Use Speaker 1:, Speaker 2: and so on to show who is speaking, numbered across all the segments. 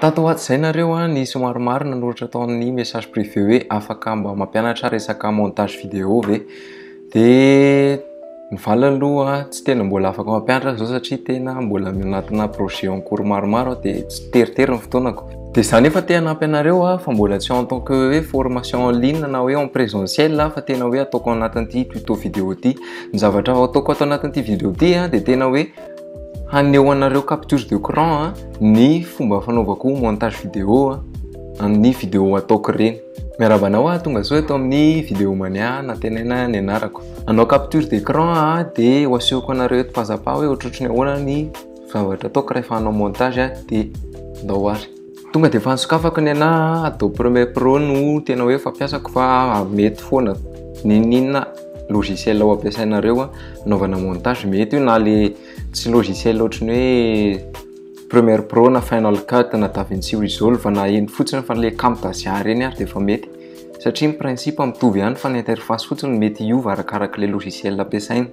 Speaker 1: Tato ho ato izay nareo an, nisy maromaro nanoratra tao amin'ny message privé hoe afaka mba mampianatra resaka montage vidéo ve? Dia ny valiny aloha tsy tena mbola afaka mampianatra azy izao satria tena mbola anatina projet en cours maromaro aho dia tsy teritery ny fotoanako. Dia izaho nefa te hanampy anareo aho fa mbola tsy en tant que hoe formation en ligne na hoe en présentiel aho fa tena hoe ataoko ao anatin'ity tuto vidéo ity. Ny zavatra ataoko ato anatin'ity vidéo ity dia tena hoe Haneho anareo capture de cran a, ny fomba fanaovako montage vidéo a, amin'ny vidéo ataoko ireny. Miarahaba anao aho, tongasoa eto amin'ny vidéo mania nantenaina ny anarako. Hanao capture de cran aho de ho asehoko anareo eto pas à pas hoe ohatrohatry ny ahoana ny zavatra ataoko rehefa hanao montage a, de ndao ary. tonga dia efa nisokafako ny anà Adobe Premiere Pro no tena hoe fampiasako fa mety foana n'inon'inona logiciel ao ampiasainareo anaovana montage mety io na le tsy logiciel ohatry ny hoe Premiere Pro na Final Cut na DaVinci Resolve na iny fotsiny fa le Camtasia ireny ary dia efa mety satria ny principe mitovy ihany fa ny interface fotsiny mety hiova arakaraka le logiciel ampiasaina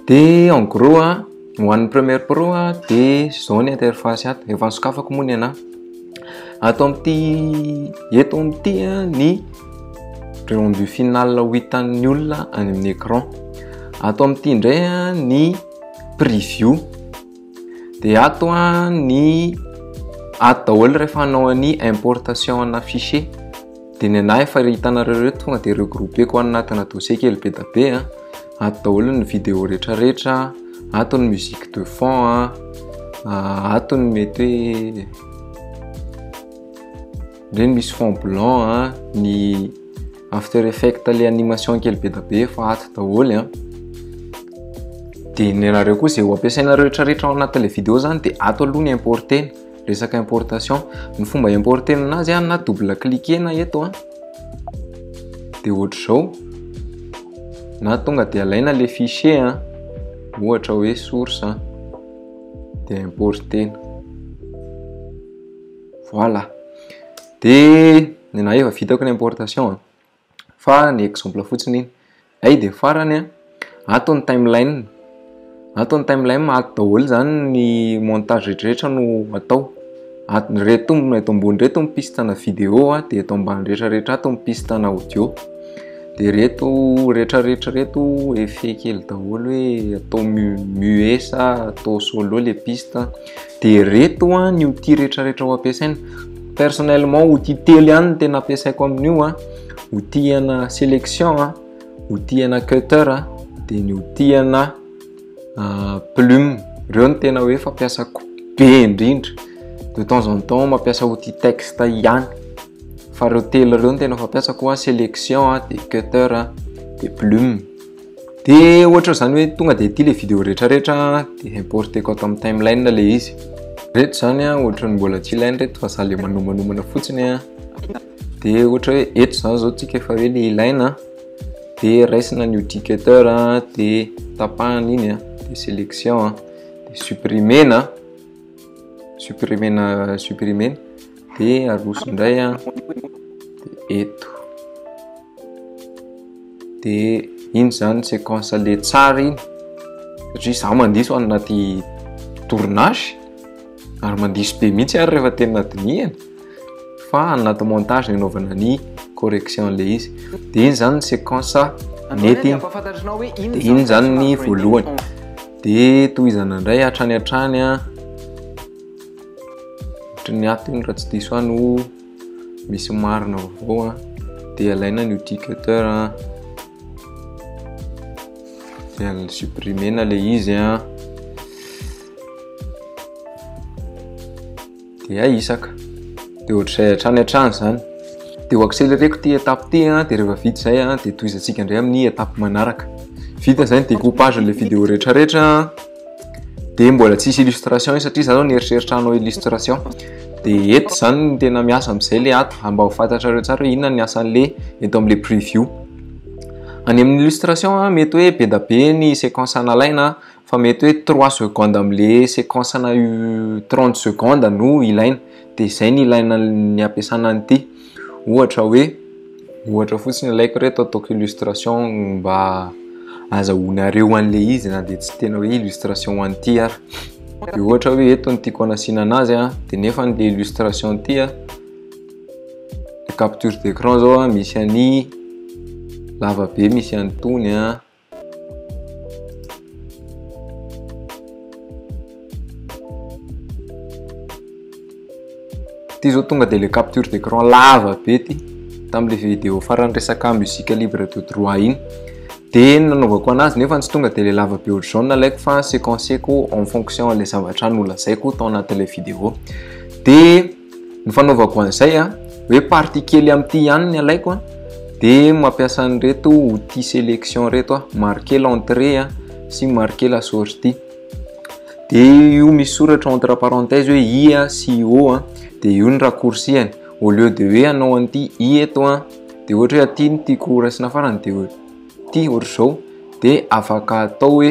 Speaker 1: dia en gros a ho an'ny première pro a dia zao ny interface ato efa nisokafako moa ny ana ato amin'ity eto amin'ity a ny rendu final ho hitan'ny olona any amin'ny écran ato amin'ity indray a ny preview dia ato a ny ato daholo rehefa hanao ny importation ana fichier dia ny anay efa hitanareo reto tonga dia regroupeko any anatina dossier kely be da be a ato daholo ny video rehetrarehetra ato ny musique de fond a ato ny mety hoe ndreny misy fond blanc a ny After effect le animation kely be da be fa ato daholo an. Dia ny anareo koa izay ho ampiasainareo retraretra ao anatin'ilay vidéo zany dia ato aloha ny importer resaka importation. Ny fomba importer azy an na double cliquer na eto an. Dia ohatr'izao na tonga dia alaina le fichier an. Ohatra hoe source an. Dia importer. Voilà. de ny na efa vitako ny importation a fa ny exemple fotsiny iny ay de farany a ato ny timeline ato ny timeline ato daholo zany ny montage rehetrarehetra no atao ato ny reto eto ambony reto ny piste na video a de eto ambany rehetrarehetra ato ny piste na audio de reto rehetrarehetra reto effet kely daholo hoe atao mu muet sa atao solo le piste de reto a ny outil retraretra ho ampiasaina personnellement outil telo ihany ny tena ampiasaiko amin'io a outil ana sélection a outil ana cutter a de ny outil ana ah, plume reo ny tena hoe fampiasako be indrindra de temps en temps mampiasa outil texte ihany fa reo telo reo ny tena fampiasako a sélection a de cutter a de plume de ohatra zany hoe tonga de ity le vidéo rehetra rehetra de importeko ato amin'ny timeline le izy reto zany a ohatrany mbola tsy ilainy reto fa za le manomanomana fotsiny a de ohatra hoe eto zany zao tsika efa hoe le ilaina de raisina ny udicateur de tapahana iny a de sélection a de supprimer na supprimer na supprimer de aroso indray a de eto de iny zany séquence le tsara iny satria za mandiso anaty tournage ary mandiso be mihitsy ary rehefa tena dinihana fa anaty montage ny anaovana ny correction le izy de iny zany ny séquence nety iny de iny zany ny voalohany de tohizana indray hatrany hatrany a ohatry ny ato iny raha tsy diso any ho misy marina avao a de alaina ny udicateur a de al supprimer-na le izy a dia hay isaka dia ohatr'izay hatrany hatrany izany dia ho accéléreko ity étape ity a dia rehefa vita izay a dia tohizantsika indray amin'ny étape manaraka vita izay ny découpage an'ilay vidéo rehetrarehetra dia mbola tsisy illustration i satria izany no nieritreritra hanao illustration dia eto izany ny tena miasa amin'izay le ato mba ho fantatrareo tsara hoe inona ny asan'le eto amin'le preview any amin'ny illustration a mety hoe be da be ny séquence analaina fa mety hoe trois secondes amle sequence na io trente secondes no ilaina de zay ny ilaina ny ampiasana an'ity ohatra hoe ohatra fotsiny ilaiko reto ataoko illustration mba azahoanareo an'le izy na de tsy tena hoe illustration an'ity ary de ohatra hoe eto ny tiako anasiana anazy a de nefa an'le illustration ity a capture d'écran zao a misy an'i lavabe misy an'itony a Ty zao tonga de le capture d'écran lava be ty tamle vidéo farany resaka musique libre de droit iny de nanaovako anazy nefa tsy tonga de le lava be ohatr'izao nalaiko fa séquenceko en fonction le zavatra nolazaiko tao anatin'ilay vidéo de ny fanaovako an'izay a hoe partie kely amin'ity ihany ny alaiko a dia mampiasa an'ireto outil sélection reto a marquer l'entrée a sy marquer la sortie dia io misy soratra entre parenthèse hoe i a sy o a dia io ny raccourcihany au lieu de hoe anao an'ity i eto a dia ohatra hoe aty ny tiako raisina farany dia ity ohatr'izao dia afaka atao hoe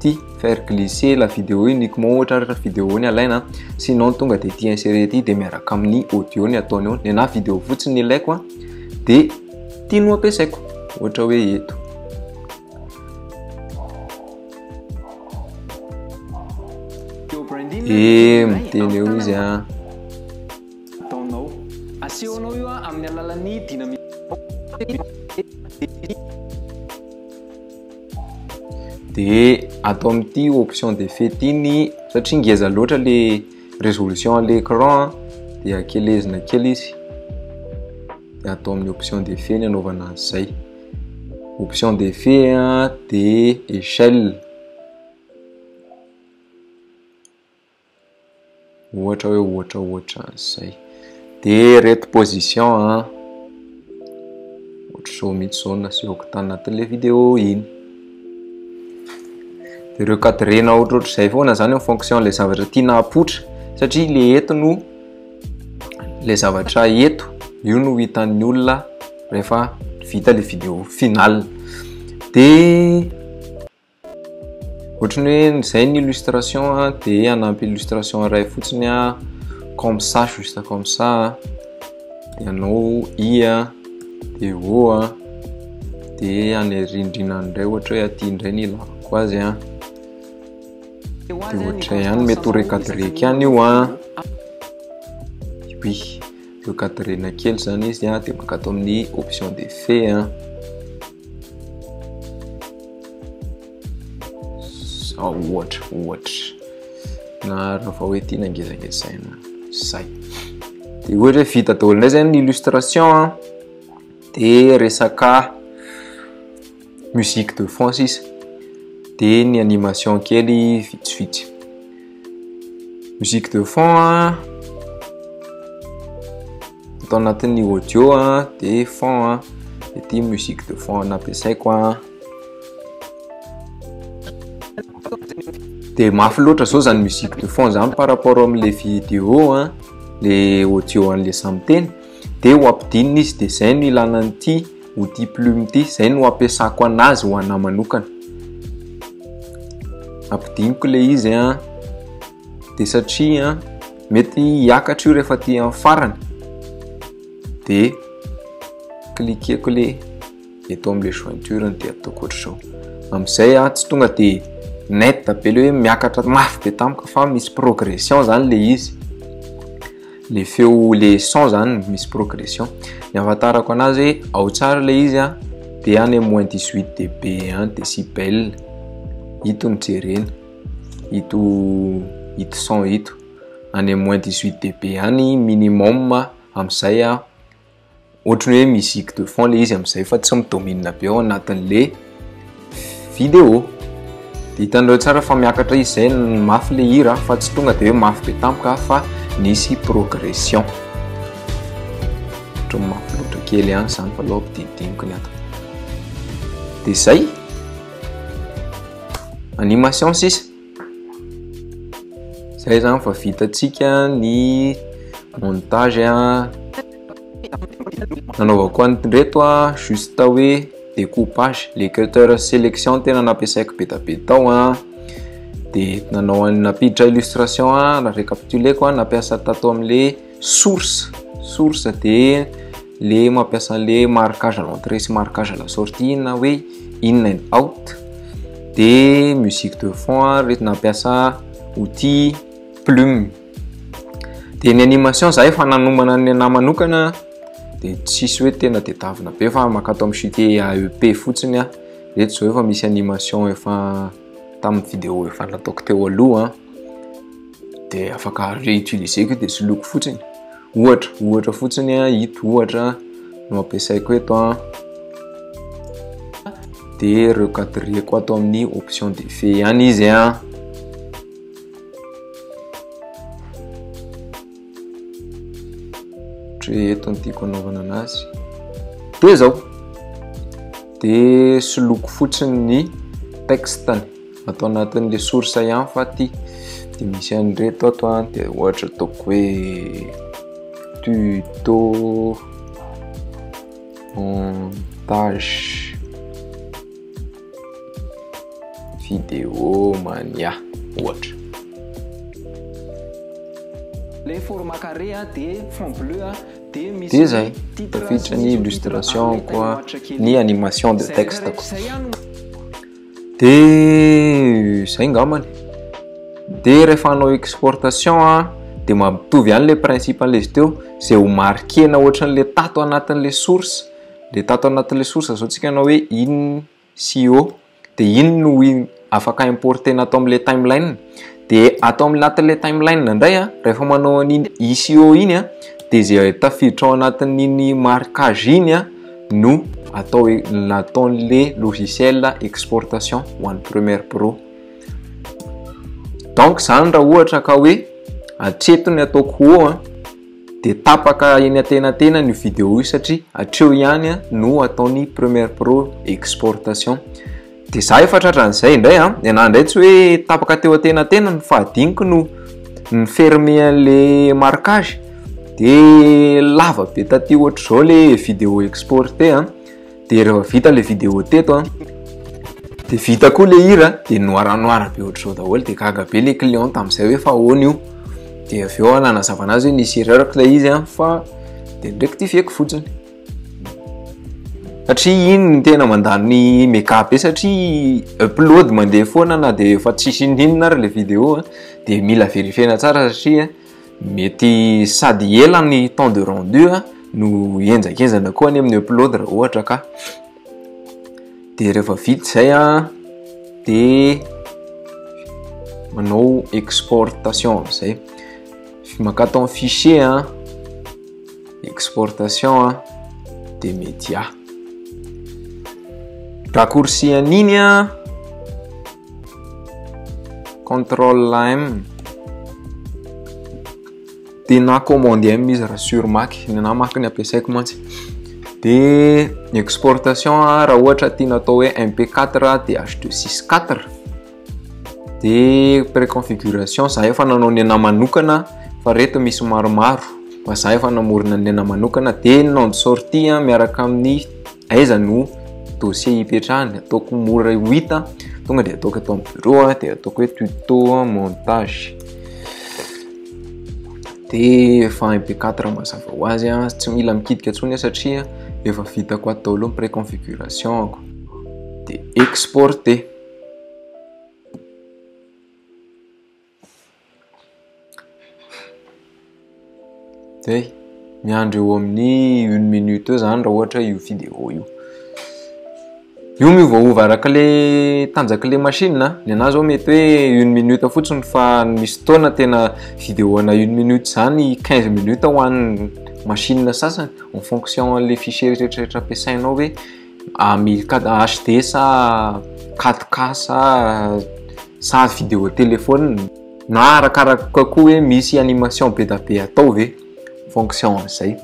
Speaker 1: ty faire glisser la vidéo uniquement ohatra ary rehefa vidéo ny alaina a sinon tonga dia ty insérer ty dia miaraka amin'ny audio ny ataony eo ny anahy vidéo fotsiny ny ilaiko a dia ty no ampiasaiko ohatra hoe eto e miteny eo izy a ataonao
Speaker 2: asehonao io a amin'ny alalan'ny dynamique
Speaker 1: dia atao amin'ity option de fete iny satria ngeza loatra le résolution à l'écran dia kelezina kely izy dia atao amin'ny option de fe ny anaovana azy izay option de fe dia échelle Ohatra hoe ohatra ohatra an'izay. Dia reto position an. Ohatr'izao mihitsy izao nasehoko tanatin'ilay vidéo iny. Dia ireo cadrena ohatrohatr'izay foana izany en fonction ilay zavatra tiana hapoitra. Satria ilay eto no ilay zavatra eto io no hitan'ny olona rehefa vita ilay vidéo finale. Dia Ohatrany hoe izay ny illustration de anampy illustration iray fotsiny a comme ça juste comme ça de anao i a de o a de any rindrina any indray ohatra hoe aty indray ny ilavako azy a de ohatra ihany mety ho recadreke any io a oui recadrena kely zany izy a de maka ato amin'ny option d'effet a Zao ohatra, ohatra. Naharo vao hoe tiana ngezangezaina zay. Dia ohatra hoe vita daholo indray zay ny illustration an. Dia resaka musique de fond sisa. Dia ny animation kely vitsivitsy. Musique de fond an. Ato anatin'ny audio a dia fond a ity musique de fond nampiasaiko a dia mafy loatra zao zany musique de fond zany par rapport amin'le vidéo a le audio an'le samy teny dia ho ampidinina izy dia zay no ilana an'ity outil plume ity zay no ampiasako anazy ho anahy manokana ampidiniko le izy a de satria mety hiakatra io rehefa aty amin'ny farany de cliqueko le eto amle jointure de ataoko ohatr'izao amin'izay a tsy tonga de net be le hoe miakatra mafy be tampoka fa misy progression zany le izy le feo le son zany misy progression ny afantarako anazy hoe ao tsara le izy a de any moins 18 db any de si belle ito ny jerena ito ito son ito any am moins 18 dB any minimum amizay a ohatry ny hoe musique de fond le izy amizay fa tsy mi-domine be ao anatin'le vidéo de hitanareo tsara fa miakatra izy zay mafy le hira fa tsy tonga de hoe mafy be tampoka fa nisy progression ohatry ny mafy loatra kely ihany zany fa aloha ampidinidiniko ny ato de zay animation sisa zay zany fa vitatsika ny montage a nanaovako any reto a juste hoe découpage le cutter sélection tena nampiasaiko betabe tao a de nanao any nampiditra illustration a na récapituleko a nampiasa tato amle source source dia le mampiasa le marquage à l'entrée sy marquage à la sortie na hoe in and out dia musique de fond a reto nampiasa outil plume dia ny animation za efa nanomana ny anah manokana dia tsisy hoe tena de davina be fa mankato amin'ny chute AEP fotsiny a reto zao efa misy animation efa tamin'ny vidéo efa nataoko teo aloha de afaka réutiliser ko de soloiko fotsiny ohatra ohatra fotsiny a ito ohatra no ampiasaiko eto a de recadreko ato amin'ny option de fe ihany izy a Ohatry eto ny tiako anaovana anazy. Dia izao. Dia soloko fotsiny ny texte-ny. Atao anatin'ilay source ihany fa ty. Dia misy an'ireto ato an. Dia ohatra ataoko hoe tuto montage. Vidéo mania ohatra.
Speaker 2: Le format carré de fond bleu de misy de zay
Speaker 1: tafiditra ny illustration koa ny animation de texte ko de zay ngamany de rehefa hanao exportation a de mampitovy ihany le principe an'le izy teo zay ho marquena ohatran'le tato anatin'le source le tato anatin'le source zao tsika anao hoe in sy o de in no afaka importer na ato amle timeline de ato am anatin'le timeline indray a rehefa manao an'iny i sy o iny a de ze tafiditra ao anatin'iny marquage iny a no atao hoe nataon'le logiciel exportation ho an'ny première pro donc zany raha ohatra ka hoe atreto ny ataoko o a Dia tapaka eny antenantenany io vidéo io satria hatreo ihany no ataony Premiere Pro exportation. Dia za efa tratran'izay indray an, ny anahy indray tsy hoe tapaka teo antenantenany fa adiniko no ny fermer an'le marquage. Dia lava be taty ohatr'izao le vidéo exporté an. de rehefa vita le vidéo teto an de vita koa le hira de noir noir be ohatr'izao daholo de gaga be le client tamin'izay hoe fa ahoana io de avy eo nanazava anazy hoe nisy erreur ilay izy an fa de nirectifieko fotsiny satria iny ny tena mandany mega be satria upload mandeha foana na de efa tsisy inona inona ary le vidéo an de mila verifiena tsara satria Mety sady ela ny temps de rendu a, no henjakenjana koa anie amin'ny upload raha ohatra ka. Dia rehefa vita izay a, dia manao exportation amin'izay. Mankatò amin'ny fichier a, exportation a, dia media. Raccourci an'iny a. Control M de na commande M izy raha sur Mac ny na Mac ny ampiasaiko mantsy de ny exportation raha ohatra tiana atao hoe MP4 de H264 de préconfiguration za efa nanao ny ana manokana fa reto misy maromaro fa za efa namorona ny ana manokana de nom de sortie miaraka amin'ny Aiza no dossier hipetrahany ataoko mora ho hita tonga dia ataoko eto amin'ny bureau a dia ataoko hoe tuto montage de efa mp4 mazava ho azy a tsy mila mikitika tsony satria efa vitako ato daholo ny préconfiguration ako de exporter Zay, miandry eo amin'ny une minute eo zany raha ohatra io vidéo io. Io miovaova araka le tanjaky le machine, ny anah zao mety hoe une minute fotsiny fa misy fotoana tena vidéo ana une minute zany quinze minutes ho an'ny machine sasany en fonction an'le fichier retraretra ampiasainao hoe. ah, mil HD sa 4K sa sa vidéo téléphone na arakaraka koa hoe misy animation be da be atao ve fonction amizay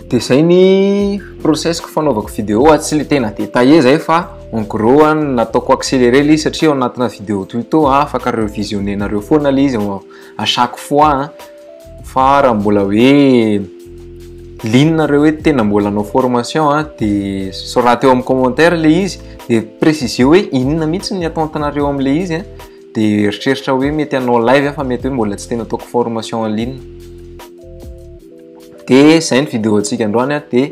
Speaker 1: de zay ny process ko fanaovako vidéo ah, tsy le tena détaillé zay fa en gros ah, nataoko accéléré le izy satria ao anatina vidéo tuto ah, afaka revisionner-nareo foana le izy à chaque fois. Fa raha mbola hoe liana nareo hoe tena mbola hanao formation a dia soraty eo amin'ny commentaire ilay izy dia préciser hoe inona mihitsy ny attente nareo amin'ilay izy a dia eritreritra hoe mety hanao live aho fa mety hoe mbola tsy tena ataoko formation en ligne dia izay ny vidéo antsika androany a dia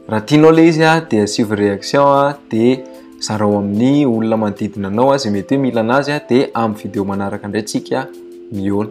Speaker 1: raha tianao ilay izy a dia asivo réaction a dia zarao amin'ny olona manodidina anao a izay mety hoe mila anazy a dia amin'ny vidéo manaraka indray tsika mihaona